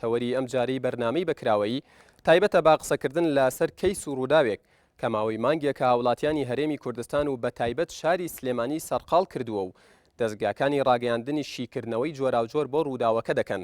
تەوەری ئەم جارەی بەرنامەی بە کراوەیی تایبەتە بە قسەکردن لە سەر کەیس و ڕووداوێک کە ماوەی مانگێکە هاوڵاتیانی هەرێمی کوردستان و بە تایبەت شاری سلێمانی سەرقاڵ کردووە و دەزگاکانی ڕاگەیاندنیش شیکردنەوەی جۆراوجۆر بۆ ڕووداوەکە دەکەن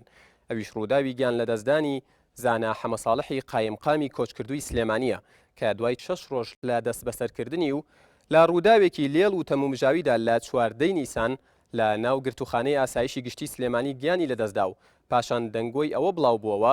ئەویش ڕووداوی گیان لەدەستدانی زانا حەمە ساڵحی قایمقامی کۆچکردووی سلێمانییە کە دوای شەش ڕۆژ لە دەستبەسەرکردنی و لە ڕووداوێکی لێڵ و تەمومژاویدا لە چواردە ی نیسان لە ناو گرتووخانەی ئاسایشی گشتی سلێمانی گیانی لەدەستدا و پاشان دەنگۆی ئەوە بڵاوبووەوە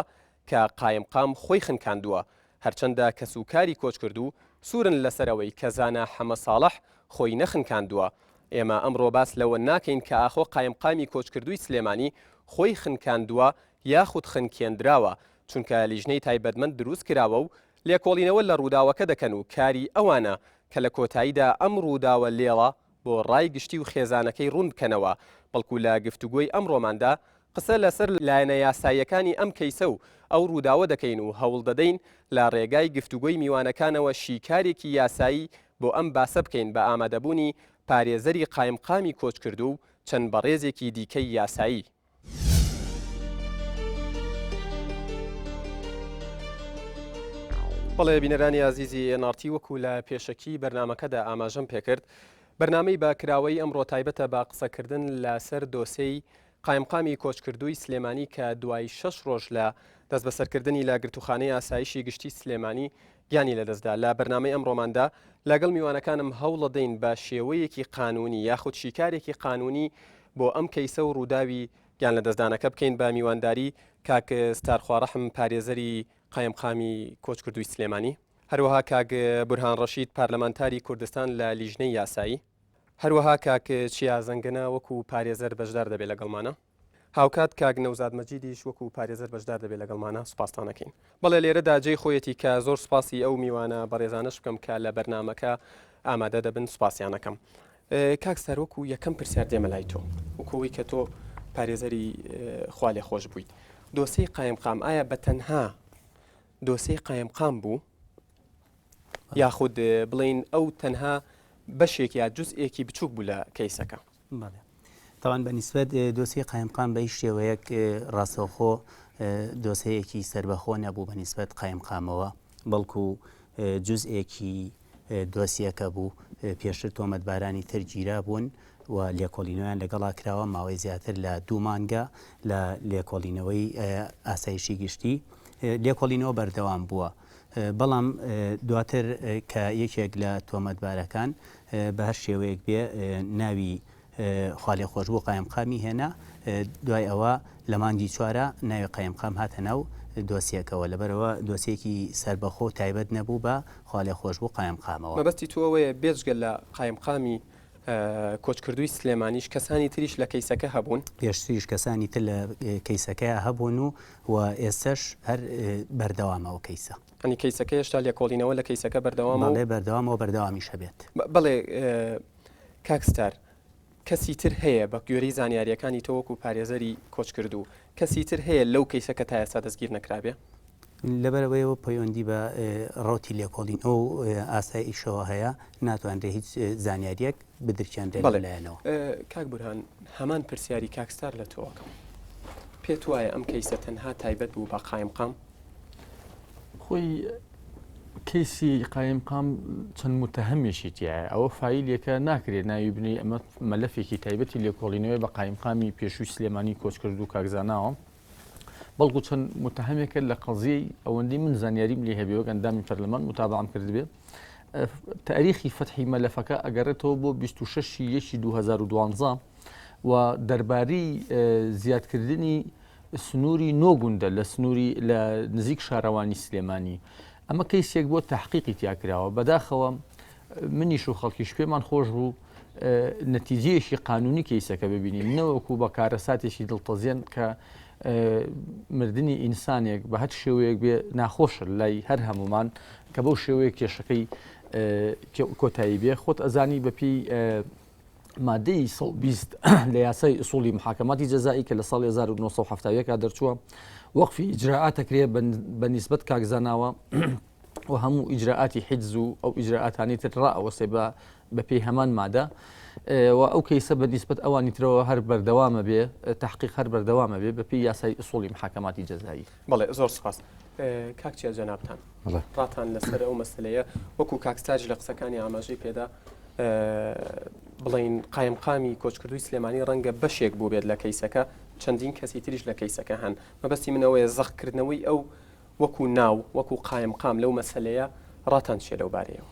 کە قایمقام خۆی خنکاندووە، هەرچەندە کەسوکاری کۆچکردوو سوورن لەسەر ئەوەی کە زانا حەمە ساڵح خۆی نەخنکاندووە، ئێمە ئەمڕۆ باس لەوە ناکەین کە ئاخۆ قایمقامی کۆچکردووی سلێمانی خۆی خنکاندووە یاخود خنکێندراوە، چونکە لیژنەی تایبەتمەند دروستکراوە و لێکۆڵینەوە لە رووداوەکە دەکەن و کاری ئەوانە کە لە کۆتاییدا ئەم رووداوە لێڵە بۆ ڕای گشتی و خێزانەکەی ڕوون بکەنەوە، بەڵکو لە گفتوگۆی ئەمڕۆماندا قسە لەسەر لایەنە یاساییەکانی ئەم کەیسە و ئەو ڕووداوە دەکەین و هەوڵدەدەین لە ڕێگای گفتوگۆی میوانەکانەوە شیکارێکی یاسایی بۆ ئەم باسە بکەین بە ئامادەبوونی پارێزەری قایمقامی کۆچکردوو و چەند بەڕێزێکی دیکەی یاسایی. بەڵێ بینەرانی ئازیزی ئێناڕتی وەکو لە پێشەکی بەرنمەکەدا ئاماژەم پێکرد بەرنمەی بە کراوەی ئەمڕۆ تایبەتە بە قسەکردن لەسەر دۆسەی قایمقامی کۆچکردووی سلێمانی کە دوای شەش ڕۆژ لە دەستبەسەرکردنی لە گرتوخانەی ئاسایشی گشتی سلێمانی گیانی لەدەستدا، لە بەرنامەی ئەمڕۆماندا لەگەڵ میوانەکانم هەوڵەدەین بە شێوەیەکی قانونی یاخود شیکارێکی قانونی بۆ ئەم کەیسە و ڕووداوی گیان لەدەستدانەکە بکەین بە میوانداری کاک ستار خواڕەحم پارێزەری قایمقامی کۆچکردووی سلێمانی هەروەها کاک بورهان ڕەشید پارلەمانتاری کوردستان لە لیژنەی یاسایی هەروەها کاک چیا زەنگەنە وەکو پارێزەر بەشدار دەبێت لەگەڵمانە هاوکات کاک نەوزاد مەجیدیش وەکو پارێزەر بەشدار دەبێت لەگەڵمانە سوپاستان ئەکەین. بەڵێ لێرەدا جێی خۆیەتی کە زۆر سوپاسی ئەو میوانە بەڕێزانەش بکەم کە لە بەرنامەکە ئامادە دەبن سوپاسیان ئەکەم. کاک ستار وەکو یەکەم پرسیار دێمە لای تۆ وەکو ئەوەی کە تۆ پارێزەری خوا لێ خۆش بوویت دۆسێی قایمقام ئایا بە تەنها دۆسێی قایمقام بوو یاخود بڵین ئەو تەنها بەشێک یا جزئێکی بچووک بوو لە کەیسەکە. بەڵێ تاوان بە نیسبەت دۆسێی قایمقام بە هیچ شێوەیەک ڕاستەوخۆ دۆسەیەکی سربەخۆ نەبوو بە نیسبەت قایمقامەوە بەڵکو جزئێکی دۆسیەکە بوو پێشتر تۆمەتبارانی تر گیرا بوون و لێکۆڵینەوەیان لەگەڵا کراوە ماوەی زیاتر لە دوو مانگە لە لێکۆڵینەوەی ئاسایشی گشتی لێکۆڵینەوە بەردەوام بووە بەڵام دواتر کە یەکێک لە تۆمەتبارەکان بە هەر شێوەیەک بێ ناوی خوالێ خۆشببوو قایمقامی هێنا دوای ئەوە لە مانگی چوارە ناوی قایمقام هاتە ناو دۆسیەکەەوە لەبەرەوە دۆسیەکی سربەخۆ تایبەت نەبوو بە خوالێ خۆشببوو قایمقامەوە مەبەستی تۆەوەیە بێجگە لە قایمقامی کۆچکردووی سلێمانیش کەسانی تریش لە کەیسەکە هەبوون. پێشتریش کەسانی تر لە کەیسەکەیا هەبوون و و ئێستەش هەر بەردەوامە ئەو کەیسە. یانی کەیسەکە هێشتا لێکۆڵینەوە لە کەیسەکە بەردەوامە و. بەڵێ بەردەوامە و بەردەوامیش هەبێت. بەڵێ کاک ستار، کەسی تر هەیە بە گوێرەی زانیارییەکانی تۆ وەکوو پارێزەری کۆچکردوو کەسی تر هەیە لەو کەیسە کە تا ئێستا دەستگیر نەکرابێ؟ لەبەرئەوەیەوە پەیوەندی بە ڕەوتی لێکۆڵین ئەو ئاسایشەوە هەیە ناتوانرێت هیچ زانیاریەک بدرکێنرێت بەڵێ لایەنەوە. کاک بورهان هەمان پرسیاری کاک ستار لە تۆوە کەم پێت وایە ئەم کەیسە تەنها تایبەت بوو بە قایمقام؟ خۆی کەیسی قایمقام چەند متهمێکی تایە ئەوە فیلێکە ناکرێت ناوی بنی ئەمە مەلەفێکی تایبەتی لێکۆڵینەوەی بە قایمقامی پێشووی سلێمانی کۆچکرد و کاکزاناوە بەڵکو چەند متهمێکە لە قەزیی ئەوەندی من زانیاریم لێ هەبێ وەگەندامی پەرلەمان متابعام کردبێ تاریخی فەتحی مەلەفەکە ئەگەڕێتەوە بۆ 26 یەکی 2012 و دەربارەی زیادکردنی سنوری نۆ گوندە لە سنوری لە نزیک شارەوانی سلێمانی ئەمە کەیسێک بۆ تحقیقی تیاکراوە بەداخەوە منیش و خەڵکیش پێمان خۆش بوو نەتیجەیەشی قانونی کەیسەکە ببینین نەوەکو بە کارەساتێکی دڵتەزیێن کە مردنی ئینسانێک بە هەر شێوەیەک بێ ناخۆشە لای هەر هەمومان کە بەو شێوەیە کێشەکەی کۆتایی بێ خۆت ئەزانی بەپی مادەی سەد و بیست لە یاسای ئسوڵی محاکماتی جەزایی کە لە ساڵ 1970 دەرچووە وەخفی ئیجرراعاتەکرێ بە نیسبەت کاکزاناوە و هەموو ئیجرراعاتی حیدز و ئەو ئیجرراعاتانی تر ڕائەوەسێ بە بەپی هەمان مادە و ئەو کەیسە بە نیسبەت ئەوانی ترەوە هەر بەردەوامە بێ تحقیق هەر بەردەوامە بێ بەپی یاسای ئسوڵی محاکماتی جەزایی بەڵێ زۆر سپاس کاک چیا جەنابتان ڕاتان لەسەر ئەو مەسلەیە وەکو کاکساج لە قسەکانی ئاماژەی پێدا بڵین قایمقامی کۆچکردوی سلێمانی ڕەنگە بەشێک بوو بێت لە کەیسەکە چەندین کەسی تریش لە کەیسەکە هەن مەبەستی منەوەیە زەخکردنەوەی ئەو وەکو ناو وەکو قایمقام لەو مەسلەیە ڕاتان شێ لەو بارەیەوە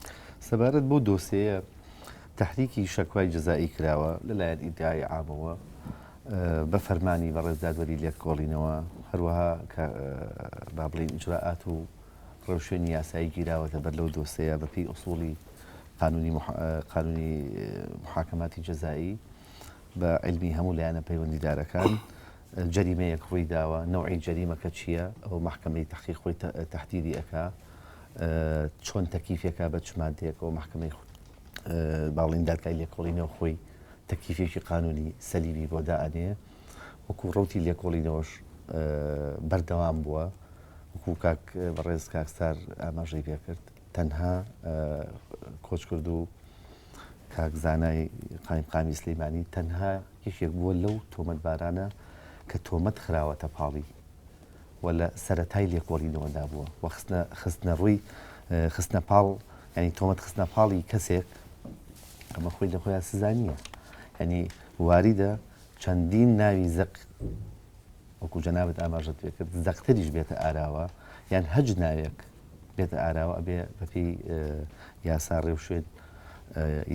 سەبارەت بۆ دۆسەیە تحریکی شەکوای جزایی کراوە لەلایەن ئیدعای ئامەوە بە فەرمانی بەڕێز دادوەری لێکۆڵینەوە، هەروەها کە با بڵێین ئیجرائات و ڕێوشوێنی یاسایی گیراوەتە بەر لەو دۆسێیە بەپێی ئوسوڵی قانونی قانونی محاکماتی جەزایی بە علمی هەموو لایەنە پەیوەندیدارەکان جەریمەیەک ڕووی داوە نەوەی جەریمەکە چییە ئەو محکمەی تەقی خۆی تهدیدی ئەک چۆن تەکیفێکا بە چمادەیەکەوە محکمەی خود باڵین دادگای لێکۆڵینەوە خۆی تەکیفێکی قانونی سەلیمی بۆ دائەنێ وەکو ڕوتی لێکۆڵینەوەش بەردەوام بووە وەکو کاک بەڕێز کاکستار ئاماژەی پێ کرد تەنها کۆچ کرد و کاک زانای قایم قامی سلەیمانی تەنها یەکێک بووە لەو تۆمەتبارانە کە تۆمەت خراوەتە پاڵی و لە سەرەتای لێکۆڵینەوەدا بووە و خستنە خستنەڕووی خستنە پاڵ ینی تۆمەت خستنە پاڵی کەسێک ئەمە خۆی لە خۆیان سزا نییە ینی واریدە چەندین ناوی زەق وەکو جەنابەت ئاماژەت پێ کرد زەقتریش بێتە ئاراوە یان هەج ناوێک بێتە ئاراوە ئەبێ بەپی یاسا ڕێوشێت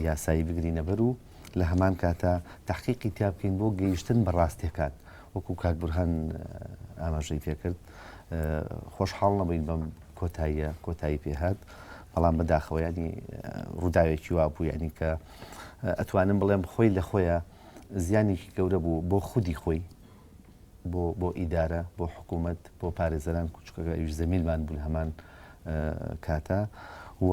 یاسایی بگرینەبەر و لە هەمان کاتا تەحقیقی تیا بکەین بۆ گەیشتن بە ڕاستیەکان وەکو کاک بورهان ئاماژەی پێکرد خۆشحاڵ نەبین بەم کۆتاییە کۆتایی پێهات بەڵام بەداخەوە ینی ڕووداوێکی وا بوو ینی کە ئەتوانم بڵێم خۆی لە خۆیە زیانێکی گەورە بوو بۆ خودی خۆی بۆ بۆ ئیدارە بۆ حکوومەت بۆ پارێزەران کوچکەکە ئەوش زەمیلمان بوون هەمان کاتە و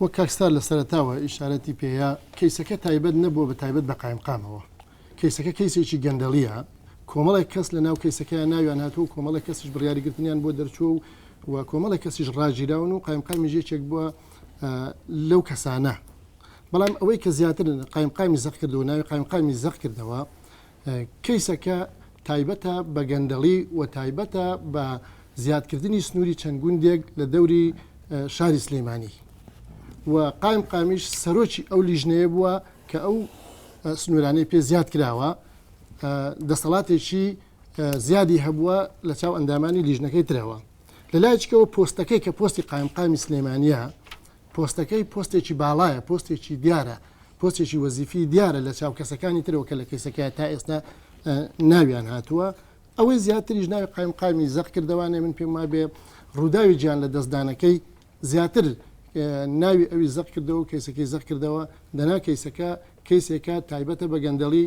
وەک کاک ستار لە سەرەتاوە ئیشارەتی پێیە، کەیسەکە تایبەت نەبووە بە تایبەت بە قایمقامەوە. کەیسەکە کەیسێکی گەندەڵییە، کۆمەڵێک کەس لەناو کەیسەکەیان ناویان هاتووە و کۆمەڵێک کەسیش بڕیاری گرتنیان بۆ دەرچووە و و کۆمەڵێک کەسیش ڕاگیراون و قایمقامیش یەکێک بووە لەو کەسانە. بەڵام ئەوەی کە زیاتر قایمقامی زەق کردووە، ناوی قایمقامی زەق کردەوە، کەیسەکە تایبەتە بە گەندەڵی و تایبەتە بە زیادکردنی سنووری چەند گوندێک لە دەوری شاری سلەیمانی و قایم قامیش سەرۆکی ئەو لیژنەیە بووە کە ئەو سنوورانەی پێ زیاد کراوە دەسەڵاتێکی زیادی هەبووە لە چاو ئەندامانی لیژنەکەی ترەوە لە لایچکەوە پۆستەکەی کە پۆستی قایمقامی سلێمانە پۆستەکەی پۆستێکی باڵایە، پۆستێکی دیارە، پۆستێکی وەزیفی دیارە لە چاو کەسەکانی ترەوە کە لە کەیسەکەیە تا ئێستا ناویان هاتووە. ئەوەی زیاتریش ناوی قایمقامی زەق کردەوانێ من پێم وابێ ڕووداوی جیان لە دەستدانەکەی زیاتر ناوی ئەوی زەق کردەوە و کەیسەکەی زەق کردەوە دەنا کەیسەکە کەیسێکە تایبەتە بە گەندەڵی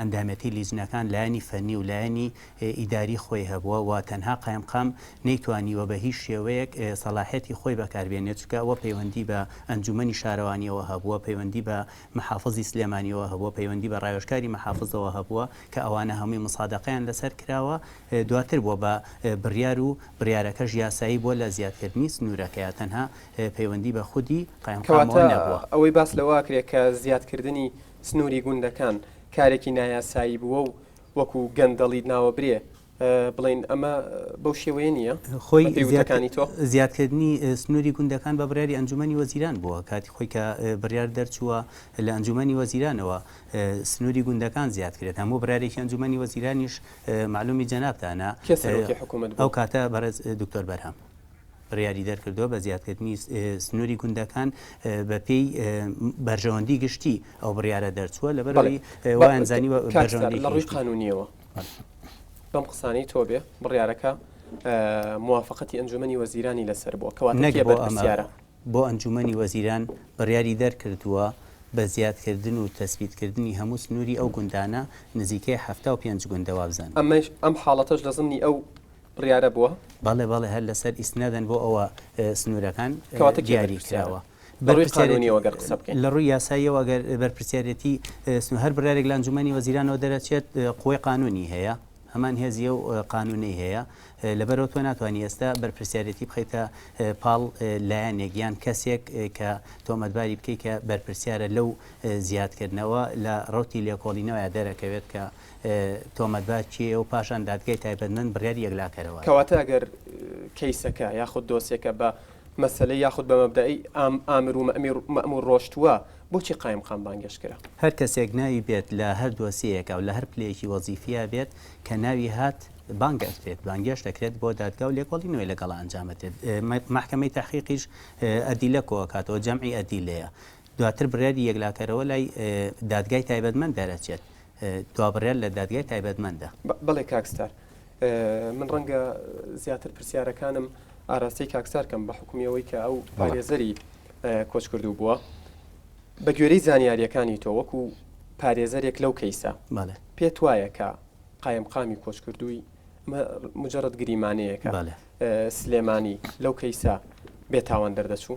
ئەندامێتی لیجنەکان لایەنی فەنی و لایەنی ئیداری خۆی هەبووە و تەنها قایمقام نەیتوانیوە بە هیچ شێوەیەک سەڵاحیەتی خۆی بەکار بێنێت چونکە ئەوە پەیوەندی بە ئەنجومەنی شارەوانیەوە هەبووە، پەیوەندی بە محافزی سلێمانیەوە هەبووە، پەیوەندی بە راوێژکاری محافزەوە هەبووە کە ئەوانە هەمووی مسادەقەیان لەسەر کراوە دواتر بووە بە بریار و بریارەکەش یاسایی بووە لە زیادکردنی سنورەکەیا تەنها پەیوەندی بە خودی قایمقامەوە نەبووە. کەواتە ئەوەی باس لەوە ئەکرێت کە زیادکردنی سنووری گوندەکان کارێکی نایاسایی بووە و وەکو گەندەڵی ناوەبرێ، بڵێین ئەمە بەو شێوەیە نییە؟ خۆی وتەکانی تۆ؟ زیادکردنی سنووری گوندەکان بە بڕیاری ئەنجوومەنی وەزیران بووە، کاتی خۆی کە بڕیار دەرچووە لە ئەنجوومەنی وەزیرانەوە سنووری گوندەکان زیادکرێت، هەموو بڕیارێکی ئەنجوومەنی وەزیرانیش مەعلوومی جەنابتانە. کێ سەرۆکی حکوومەت بوو؟ ئەو کاتە بەڕێز دکتۆر بەرهەم. بڕیاری دەرکردووە بە زیادکردنی سنووری گوندەکان بەپێی بەرژەوەندی گشتی ئەو بڕیارە دەرچووە لەبەرەوەی وایان زانیوە بەرژەوەندی لە ڕووی قانونیەوە بەم قسانەی تۆ بێ بڕیارەکە موواافقەتی ئەنجومی وەزیرانی لەسەر بووە کەوا نەگە بۆ ئەمسیارە بۆ ئەنجومی وەزیران بڕیاری دەرکردووە بە زیادکردن و تەسبیتکردنی هەموو سنووری ئەو گوندانە نزیکەی ه پێنج گوندەوابزان ئەمەش ئەم حاڵەتەش لە زمنی ئەو بڕیارە بووە؟ بەڵێ بەڵێ هەر لەسەر ئیستنادەن بۆ ئەوە سنوورەکان کەواتە کێ دیاری بەرپرسیارە؟ کراوە لە ڕووی بەرپرسیارێتی قانوونیەوە گەر قسە بکەین. لە ڕووی یاساییەوە گەر بەرپرسیارێتی سنوور هەر بڕیارێک لە ئەنجوومەنی وەزیرانەوە دەرەچێت قوەی قانوونی هەیە هەمان هێزی ئەو قانوونەی هەیە لەبەرئەوە تۆ ناتوانی ئێستا بەرپرسیارێتی بخەیتە پاڵ لایەنێک یان کەسێک کە تۆمەتباری بکەی کە بەرپرسیارە لەو زیادکردنەوە لە ڕەوتی لێکۆڵینەوەیە دەرەکەوێت کە تۆمەتبار کێیە و پاشان دادگای تایبەتمەند بڕیاری یەکلاکەرەوە. کەواتە ئەگەر کەیسەکە یاخود دۆسیەکە بە مەسەلەی یاخود بە مەبدەئی ئام ئامر و مەئمور ڕۆشتووە، بۆچی قایمقام بانگێشت کرا؟ هەر کەسێک ناوی بێت لە هەر دۆسیەیەکا و لە هەر پلەیەکی وەزیفیا بێت کە ناوی هات بانگ ئەکرێت، بانگێشت ئەکرێت بۆ دادگا و لێکۆڵینەوەی لەگەڵا ئەنجام ئەدرێت. مەحکەمەی تەحقیقیش ئەدیلە کۆ ئەکاتەوە، جەمعی ئەدیلەیە. دواتر بڕیاری یەکلاکەرەوە لای دادگای تایبەتمەند دەرئەچێت. دوا بڕیار لە دادگای تایبەتمەندە. بەڵێ کاک ستار من ڕەنگە زیاتر پرسیارەکانم ئاراستەی کاک ستار کەم بە حکومی ئەوەی کە ئەو پارێزەری کۆچکردوو بووە بە گوێرەی زانیاریەکانی تۆ وەکو پارێزەرێک لەو کەیسە پێت وایە کە قایم قامی کۆچکردووی مجرد گریمانەیەکە سلێمانی لەو کەیسە بێتاوان دەردەچوو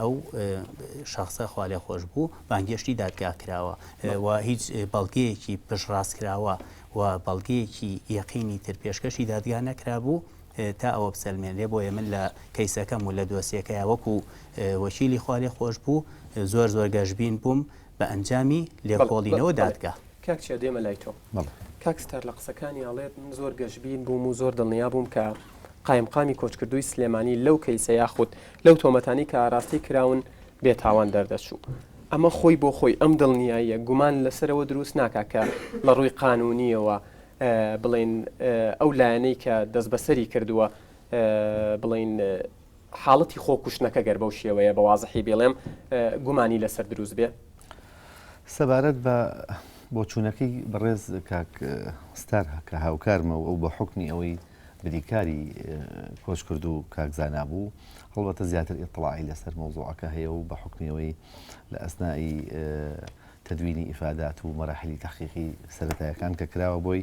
ئەو شەخسە خوالێخۆشبوو بانگێشتی دادگا کراوە و هیچ بەڵگەیەکی پشتڕاستکراوە و بەڵگەیەکی یەقینی تر پێشکەشی دادگا نەکرابوو تا ئەوە بسەلمێنرێ بۆیە من لە کەیسەکەم و لە دۆسیەکەیا وەکو وەکیلی خوالێخۆشبوو زۆر زۆر گەشبین بووم بە ئەنجامی لێکۆڵینەوە دادگا. کاک چیا دێمە لای تۆ. کاک ستار لە قسەکانی ئەڵێت من زۆر گەشبین بووم و زۆر دڵنیا بووم کە قایمقامی کۆچکردووی سلێمانی لەو کەیسە یاخود لەو تۆمەتانەی کە ئاراستەی کراون بێ تاوان دەردەچوو. ئەمە خۆی بۆ خۆی ئەم دڵنیاییە گومان لەسەرەوە دروست ناکا کە لە ڕووی قانوونییەوە بڵێین ئەو لایەنەی کە دەستبەسەری کردووە بڵێین حاڵەتی خۆکوشتنەکە گەر بەو شێوەیە بە وازحی بیڵێم گومانی لەسەر دروست بێ؟ سەبارەت بە بۆچوونەکەی بەڕێز کاک ستار کە هاوکارمە و ئەو بە حکمی ئەوەی بریکاری کۆچکرد و کاک زانا بوو هەڵبەتە زیاتر ئیتڵاعی لەسەر مەوزوعەکە هەیە و بە حکمیەوەی لە ئەسنایی تدوینی ئیفادات و مەراحلی تحقیقی سەتایەکان کە کراوە بۆی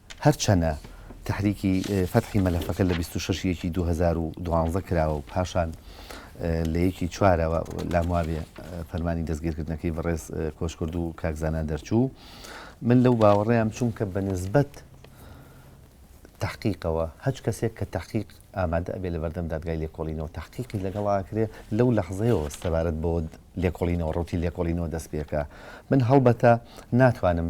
هەرچەنە تەحریکی فەتحی مەلەفەکە لە بیست و شەش ی یەکی دوو هەزار و دوازدە کراوە و پاشان لە یەکی چوارەوە لام وابێ فەرمانی دەستگیرکردنەکەی بەڕێز کۆچکرد و کاک زانا دەرچوو من لەو باوەڕێم چونکە بە نسبەت تحقیقەوە هەچ کەسێک کە تحقیق ئامادە ئەبێ لە بەردەم دادگای لێکۆڵینەوە تحقیقی لەگەڵا کرێ لەو لەحزەیەوە سەبارەت بۆ لێکۆڵینەوە ڕوتی لێکۆڵینەوە دەست پێکە من هەڵبەتە ناتوانم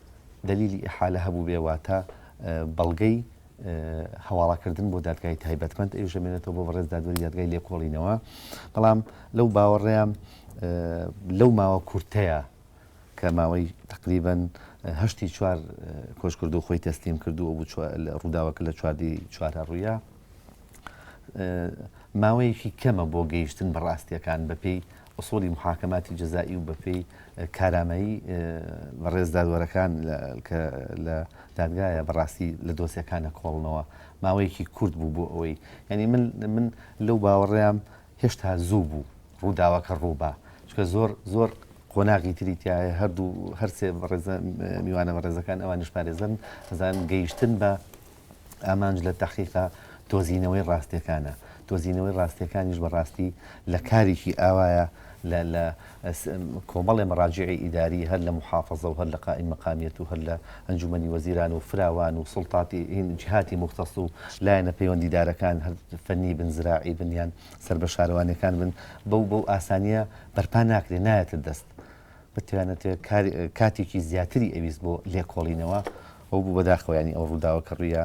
دەلیلی ئیحالە هەبووبێ واتە بەڵگەی هەواڵاکردن بۆ دادگای تایبەتمەند ئەوش دەمێنێتەوە بۆ بەڕێز دادوەری دادگای لێکۆڵینەوە بەڵام لەو باوەڕێم لەو ماوە کورتەیە کە ماوەی تقریبن هەشتی چوار کۆشکرد و خۆی تەستیم کردو ئەو ڕووداوەکە لە چواردی چوارە ڕوویە ماوەیەکی کەمە بۆ گەیشتن بە ڕاستیەکان بەپێی ئوسوڵی محاکماتی جەزائی و بەپێی کارامەیی بەڕێز دادوەرەکان کە لە دادگایە بەڕاستی لە دۆسیەکانە کۆڵنەوە ماوەیەکی کورد بوو بۆ ئەوەی یعنی من من لەو باوەڕیان هێشتا زوو بوو ڕووداوەکە ڕووبا چکە زۆر زۆر قۆناغی تری تایە هەردوو هەرسێ بەڕێزە میوانە بەڕێزەکان ئەوان نیشپارێزن ئەزان گەیشتن بە ئامانج لە تەحقیقا تۆزینەوەی ڕاستیەکانە تۆزینەوەی ڕاستیەکانیش بەڕاستی لە کاریکی ئاوایە لە لە کۆمەڵێ مەڕاجعی ئیداری هەر لە محافظە و هەر لە قائیم مقامیت و هەر لە ئەنجومنی وەزیران و فراوان و سڵتاتی جهاتی مختص و لایەنە پەیوەندیدارەکان هەر فەنی بن زراعی بنیان سەر بە شارەوانەکان بن بەو بەو ئاسانیە بەرپا ناکرێ نایەتە دەست بتوانێت کاتێکی زیاتری ئەویست بۆ لێکۆڵینەوە ئەو بوو بەداخەوە ینی ئەو ڕووداوە کە ڕوویە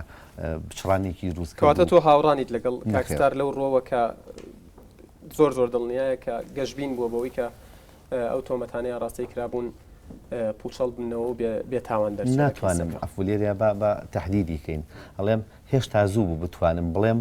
بچڕانێکی رووس کەواتە تۆ هاوڕانیت لەگەڵ کاکستار لەو ڕۆوە کە زۆر زۆر دڵنیایە کە گەشببین بووە بەوەی کە ئەو تۆمەتانەیە ڕاستی کرابوون پوچەڵ بنەوە و بێتاوان دەر ناتوانم ئەفولێریا با بە تهدیدیکەین ئەڵێم هێشتا زوو بوو بتوانم بڵێم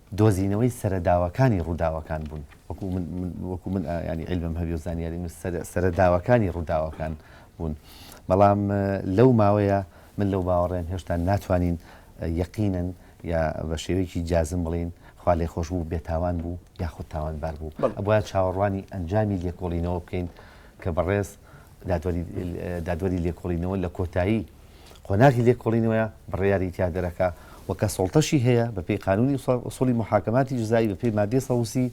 دۆزینەوەی سەرەداوەکانی ڕووداوەکان بوون، وەکو من وەکو من یانی عیلمم هەبێ و زانیاری من سەرەداوەکانی ڕووداوەکان بوون، بەڵام لەو ماوەیە من لەو باوەڕەم هێشتا ناتوانین یەقینەن یا بە شێوەیەکی جازم بڵێین خوا لێخۆشبوو بێتاوان بوو یاخود تاوانبار بوو، ئەبوایە چاوەڕوانی ئەنجامی لێکۆڵینەوە بکەین کە بەڕێز دادوەری دادوەری لێکۆڵینەوە لە کۆتایی قۆناغی لێکۆڵینەوەیە بڕیاری تیا دەرەکا و کە سڵتەشی هەیە بە پێی قانونی سڵی محاکماتی جزایی بە پێی مادەی سەوسی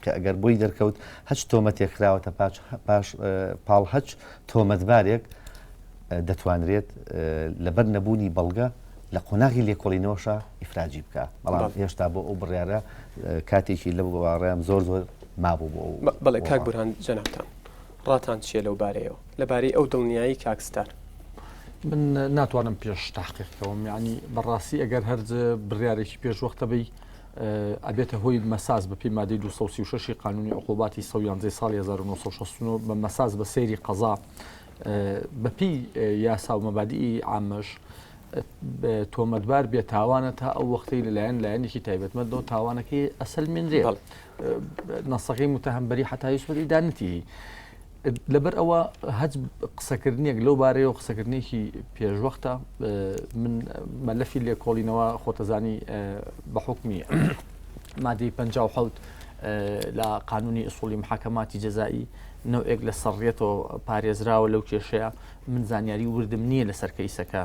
کە ئەگەر بۆی دەرکەوت هەچ تۆمەتێک کراوەتە پاش پاش پاڵ هەچ تۆمەتبارێک دەتوانرێت لەبەر نەبوونی بەڵگە لە قۆناغی لێکۆڵینەوەشە ئیفراجی بکە بەڵام هێشتا بۆ ئەو بڕارە کاتێکی لە بڕیان زۆر زۆر مابوو بۆ ئەو وڵاتە. بەڵێ کاک بورهان جەنابتان ڕاتان چییە لەو بارەیەوە، لەبارەی ئەو دڵنیایی کاک ستار؟ من ناتوانم پێش تاقیق کەوم یعنی بەڕاستی ئەگەر هەرج بڕارێکی پێش وەختە بی ئەبێتە هۆی مەساس بە پێی مادەی 26 قانونی عقوباتی سەویانزەی ساڵ 1969 بە مەساس بە سەیری قەزا بەپی یاسا و مەبادی ئامەش تۆمەتبار بێ تاوانە تا ئەو وەختەی لەلایەن لایەنێکی تایبەتمەندەوە تاوانەکەی ئەسلمێنرێ نەسەکەی متهم بەری حتا یوسفەتی دانتی لەبەر ئەوە هەج قسەکردنیەک لەو بارەیەوە قسەکردنێکی پێشوەختە من مەلەفی لێکۆڵینەوە خۆتەزانی بە حکمی مادەی پ حوت لە قانونی ئسوڵی محاکەماتی جەزایی نەوەک لە سەڕیەتەوە پارێزراوە لەو کێشەیە من زانیاری وردم نییە لەسەر کەیسەکە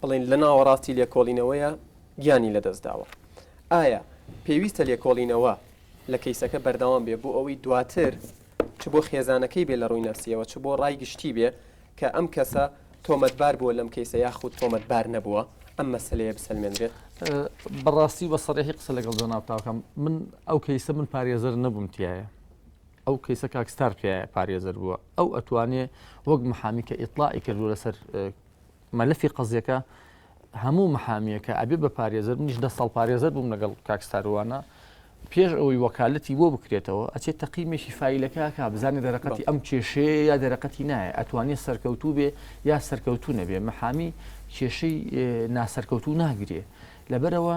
بڵێن لە ناوەڕاستی لێکۆڵینەوەیە گیانی لەدەستداوە، ئایا پێویستە لێکۆڵینەوە لە کەیسەکە بەردەوام بێ بۆ ئەوەی دواتر چ بۆ خێزانەکەی بێ لە ڕووی نەفسیەوە چ بۆ ڕای گشتی بێ کە ئەم کەسە تۆمەتبار بووە لەم کەیسە یاخود تۆمەتبار نەبووە ئەم مەسلەیە بسەلمێنرێت؟ بەڕاستی بە سەڕێحی قسە لەگەڵ جەنابتاوکەم من ئەو کەیسە من پارێزەر نەبووم تایە ئەو کەیسە کاکستار پێ پارێزەر بووە ئەو ئەتوانێ وەک محامی کە ئیطلاعی کردو لەسەر مەلەفی قەزیەکە هەموو محامیەکە ئەبێ بە پارێزەر منیش دە ساڵ پارێزەر بووم لەگەڵ کاک ساروانە پێش ئەوەی وەکالەتی بۆ بکرێتەوە ئەچێت تەقیمێکی فیلەکە کا بزانێ دەرەقەتی ئەم کێشەیە یا دەرەقەتی نایە ئەتوانێت سەرکەوتوو بێ یا سەرکەوتو نەبێ محامی کێشەی ناسەرکەوتو ناگرێ لەبەرەوە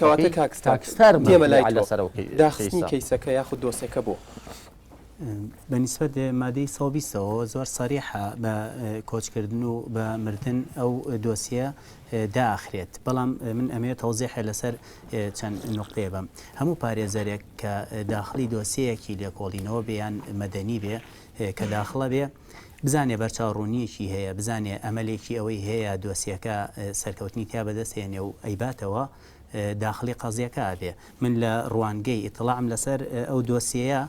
کەواتە کاک ستار دێمە لای تۆ، داخستنی کەیسەکە یاخود دۆسێکە بۆ؟ بە نیسبەت مادەی سەد و بیست ەوە زۆر سەریحە بە کۆچکردن و بە مردن ئەو دۆسیە داخرێت بەڵام من ئەمێ تەوزیحێ لەسەر چەند نقطەیە بم هەموو پارێزەرێک کە داخلی دۆسیەکی لێکۆڵینەوە بێیان مەدەنی بێ هەیە کە داخڵە بێ بزانێ بەرچاو ڕوونیەکی هەیە بزانێ ئەمەلێکی ئەوەی هەیە دۆسیەکە سەرکەوتنی تیا بەدەست هێنێ و ئەیباتەوە داخڵی قەزیەکە ئەبێ من لە ڕوانگەی ئیتڵاعم لەسەر ئەو دۆسیەیە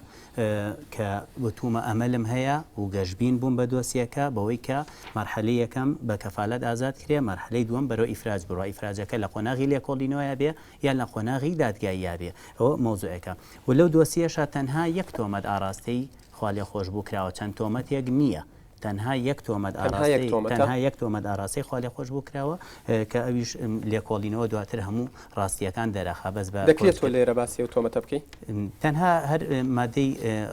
کە وتومە ئەمەلم هەیە و گەشبین بووم بە دۆسیەکە بەوەی کە مەرحەلەی یەکەم بە کەفالەت ئازاد کرێ مەرحەلەی دووەم بەرەو ئیفراج بڕا ئیفراجەکە لە قۆناغی لێکۆڵینەوەیە بێ یان لە قۆناغی دادگاییە بێ ئەوە مەوزوعەکە و لەو دۆسیەشە تەنها یەک تۆمەت ئاراستەی خوا لێ خۆش بوو کراوە چەند تۆمەتێک نیە تەنها یەک تۆمەت تەنها یەک ئاراستەی تۆمەتە؟ تەنها یەک تۆمەت ئاراستەی خوا لێ خۆش بوو کراوە کە ئەویش لێکۆڵینەوە دواتر هەموو ڕاستیەکان دەرەخا بەس بە دەکرێت کۆرت تۆ کرد لێرە باسی ئەو تۆمەتە بکەی؟ تەنها هەر مادەی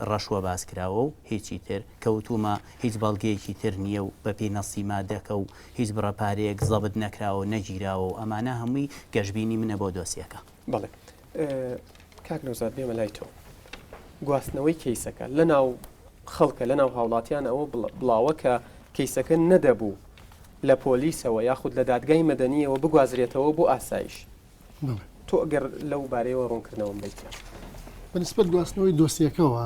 ڕەشوە باس کراوە و هیچی تر کە وتومە هیچ بەڵگەیەکی تر نیە و بە پێی نەصی مادەکە و هیچ بڕە پارەیەک زەبت نەکراوە و نەگیراوە و ئەمانە هەمووی گەشبینی منە بۆ دۆسیەکە. بەڵێ کاک نەوزاد بێمە لای تۆ گواستنەوەی کەیسەکە لە ناو خەڵکە لە ناو هاوڵاتیان ئەوە بڵاوە کە کەیسەکە نەدەبوو لە پۆلیسەوە یاخود لە دادگای مەدەنیەوە بگوازرێتەوە بۆ ئاسایش تۆ ئەگەر لەو بارەیەوە ڕوونکردنەوەم بیت بنسبەت گواستنەوەی دۆسیەکەەوە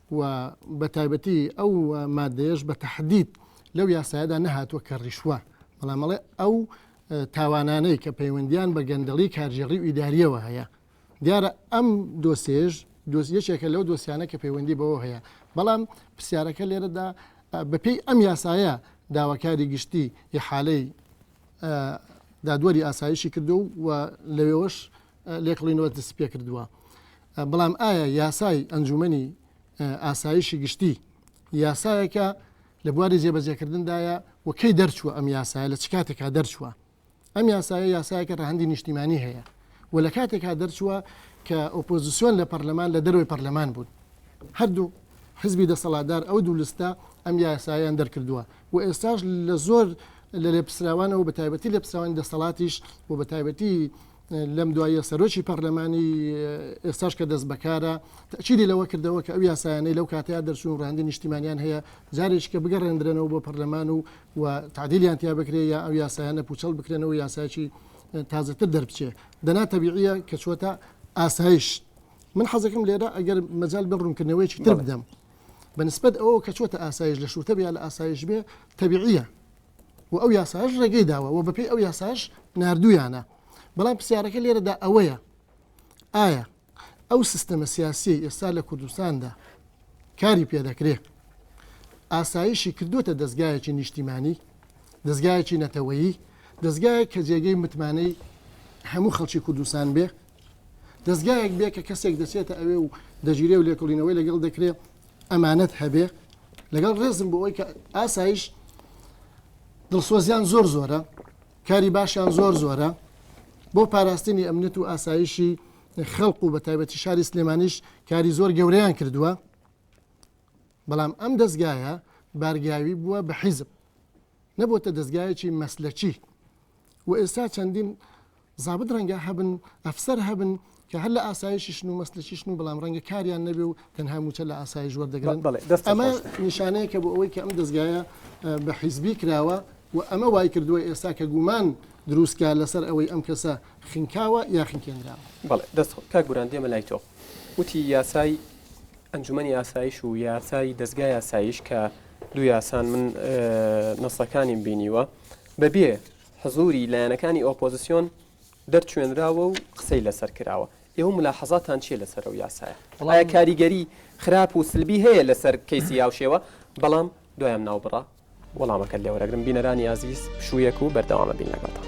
و بە تایبەتی ئەو مادەیەش بە تەحدید لەو یاسایەدا نەهاتووە کە ڕیشوە بەڵام ئەڵێ ئەو تاوانانەی کە پەیوەندیان بە گەندەڵی کارژێڕی و ئیداریەوە هەیە دیارە ئەم دۆسێژ یەکێکە لەو دۆسیانە کە پەیوەندی بەوە هەیە بەڵام پرسیارەکە لێرەدا بەپی ئەم یاسایە داواکاری گشتی یحالەی دادوەری ئاسایشی کردو و لەوێوەش لێکڵینەوە دەست پێ کردووە بەڵام ئایا یاسای ئەنجومنی ئاسایشی گشتی یاسایەکە لە بواری جێبەجێکردندایە و کەی دەرچووە ئەم یاسایە لە چ کاتێکا دەرچووە ئەم یاسایە یاسایەکە ڕەهندی نیشتیمانی هەیە و لە کاتێکا دەرچووە کە ئۆپۆزیسیۆن لە پەرلەمان لە دەروی پەرلەمان بوون هەردوو حزبی دەسەڵاتدار ئەو دوو لستە ئەم یاسایان دەرکردووە و ئێستاش لە زۆر لە لێپسراوانەوە بە تایبەتی لێپسراوانی دەسەڵاتیش و بە تایبەتی لەم دواییە سەرۆکی پەڕلەمانی ئێستاش کە دەست بەکارە تەئکیدی لەوە کردەوە کە ئەو یاسایانەی لەو کاتەیە دەرچوون ڕەهەندی نیشتیمانیان هەیە جارێکیکە بگەڕێندرێنەوە بۆ پەرلەمان و و تعدیلیان تیا بکرێ یا ئەو یاسایانە پوچەڵ بکرێنەوە یاساکی تازەتر دەربچێ دەنا تەبیعە کە چۆتە ئاسایش من حەزەکەم لێرە ئەگەر مەجال بە ڕوونکردنەوەیکی تر بدەم بەنسبت ئەوە کە چۆتە ئاسایش لە شوتە بێ لە ئاسایش بێ تەبیعە و ئەو یاسایەش ڕێگەی داوە و بەپێی ئەو یاسایش ناردویانە بەڵام پرسیارەکە لێرەدا ئەوەیە ئایا ئەو سیستەمە سیاسی ئێستا لە کوردستاندا کاری پێدەکرێ ئاسایشی کردوتە دەستگایەکی نیشتیمانی دەستگایەکی نەتەوەیی دەستگایە کە جێگەی متمانەی هەموو خەڵکی کوردستان بێ دەستگایەک بێ کە کەسێک دەچێتە ئەوێ و دەگیرێ و لێکڵینەوەی لەگەڵ دەکرێت ئەمانەت هەبێ لەگەڵ ڕێزم بۆ ئەوی کە ئاسایش دڵسۆزیان زۆر زۆرە کاری باشیان زۆر زۆرە بۆ پاراستنی ئەمنێت و ئاسایشی خەڵق و بە تایبەتی شاری سلێمانیش کاری زۆر گەورەیان کردووە بەڵام ئەم دەستگایە بارگاوی بووە بە حیزب نەبووتە دەستگایەکی مەسلەچی و ئێستا چەندین زابت رەنگە هەبن ئەفسەر هەبن کە هەر لە ئاسایشیشن و مەسلەکیشن و بەڵام رەنگە کاریان نەبێ و تەنها مووچە لە ئاسایش وەردەگرن بەڵێ دەست خۆش ئەمە نیشانەیەکە بۆ ئەوەی کە ئەم دەزگایە بە حیزبی کراوە و ئەمە وای کردووە ئێستا کە گومان دروست کا لەسەر ئەوەی ئەم کەسە خنکاوە یا خنکێنراوە. بەڵێ دەست خۆش کاک بوران دێمە لای تۆ وتی یاسای ئەنجومەنی ئاسایش و یاسای دەزگای ئاسایش کە دوو یاسان من نەسەکانیم بینیوە بەبێ حزووری لایەنەکانی ئۆپۆزسیۆن دەرچوێنراوە و قسەی لەسەر کراوە، ئێوە مولاحەزاتان چیە لەسەر ئەو یاسایە؟ ئایا کاریگەری خراپ و سلبی هەیە لەسەر کەیسی یاوشێوە؟ بەڵام دوایان ناوبڕا. وەڵامەکەت لێ وەرەگرم بینەرانی ئازیز پشوویەک و بەردەوامەبین لەگەڵتان.